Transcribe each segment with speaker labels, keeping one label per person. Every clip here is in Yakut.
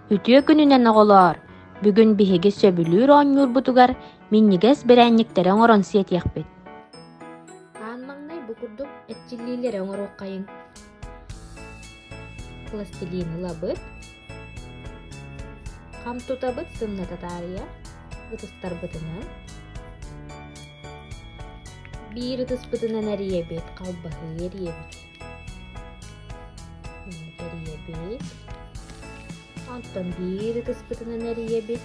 Speaker 1: Үтүө күнүнэн оҕолоор! Бүгүн биһиги сөбүлүүр оонньуурбутугар минньигэс бэрээнньиктэри оҥорон сиэтиэхпит. Аан маҥнай бу курдук эрчиллиилэри оҥоруоххайыҥ. Пластилин лабыт, Хам тутабыт сымната таарыйа ытыстарбытынан биир ытыспытынан эрийэбит, халбаһы эрийэбит. Эрийэбит. Онтон биир ытыспытынан эрийэбит.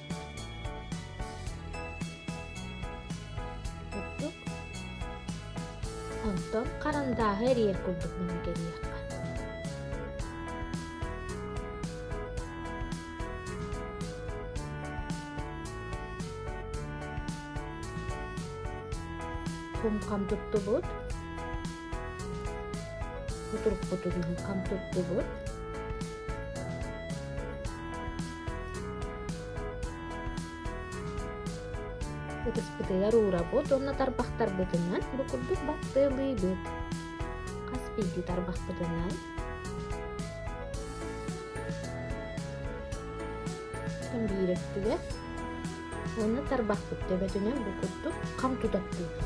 Speaker 1: Онтон харандааһы эрийэр курдук гынан кэлиэххэ кум-хам туттубут кутурукпутугун хам туттубут Ытыспытыгар уурабыт уонна тарбахтарбытынан бу курдук баттыалыыбыт. Хас биирдии тарбахпытынан биир өттүгэр уонна тарбахпыт төбөтүнэн бу курдук хам тутаттыыбыт.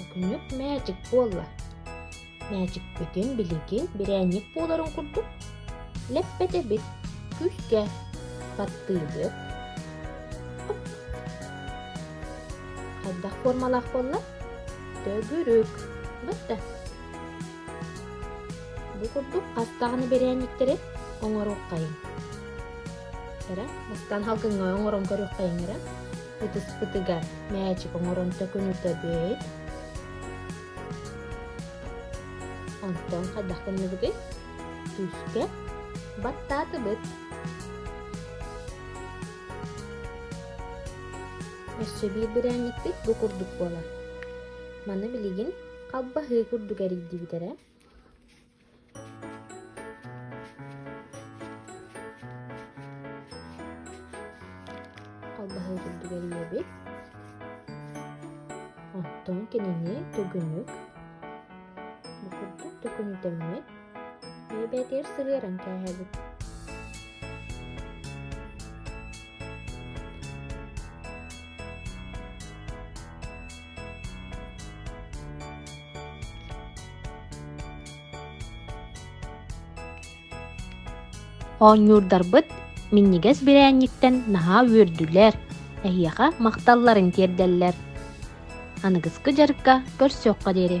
Speaker 1: Өкүнүк мээчик буолла. Мээчикпитин билигин бирээнньик буоларын курдук лэппэтэбит, күлгэ, баттыыбыт. Хайдах формалаах буолла? Төгүрүк. Бытта. Бу курдук аттаҕын бэрээнньиктэрэ оҥоруоххайыҥ эрэ бастаан халкыҥҥа оҥорон көрүөххэйиҥ эрэ ытыспытыгар мээчик оҥорон төкүнүтэ бүөйт онтон хайдах гынныбыгый күүскэ баттаатыбыт өссө биир бэрээнньикпит бу курдук буолар маны билигин Халбаһыы курдук эрийдибит эрэ Халбаһыы курдук эрийэбит Оттон кинини түгүнүк бу курдук түгүнүтэммит Эбэтэр сыһыаран кээһэбит Оонньуурдарбыт минньигэс бирээнньиттэн наһаа үөрдүлэр, эһиэхэ махталларын тиэрдэллэр. Аныгыскы дьарыкка көрсүөххэ диэри